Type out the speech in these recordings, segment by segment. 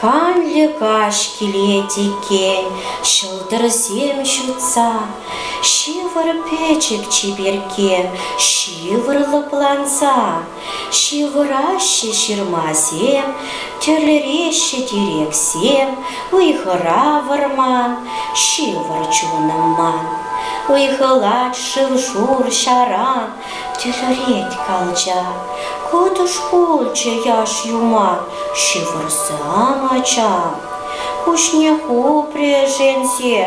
Канлӗ каҫ килет иккен, ҫӑлтӑрсем ҫутса. Ҫывӑр пӗчӗк чиперкке, ҫывӑр лӑпланса. Ҫывӑраҫҫӗ ҫырмасем, тӗрлереҫҫӗ тирексем, Ыйхӑра вӑрман, ҫывӑр чунӑм ман. Ыйхӑлать шыв-шур ҫаран, тӗлӗрет калча. Кӑтӑш пулчӗ яш юма, ҫывӑрсам ачам. Куҫне хупрӗшенсе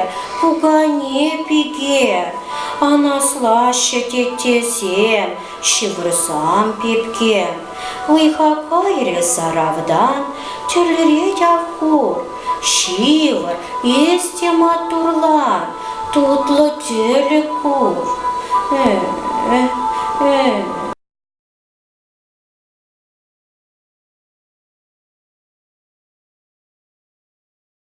пукане пике, анаслаҫҫӗ теттесем, ҫывӑрсам пепке. Ыйха кайрӗ саравдан, тӗрлӗре ҫав хур. Ҫывӑр, эс те маттурлан, тутлӑ тӗлӗк пур.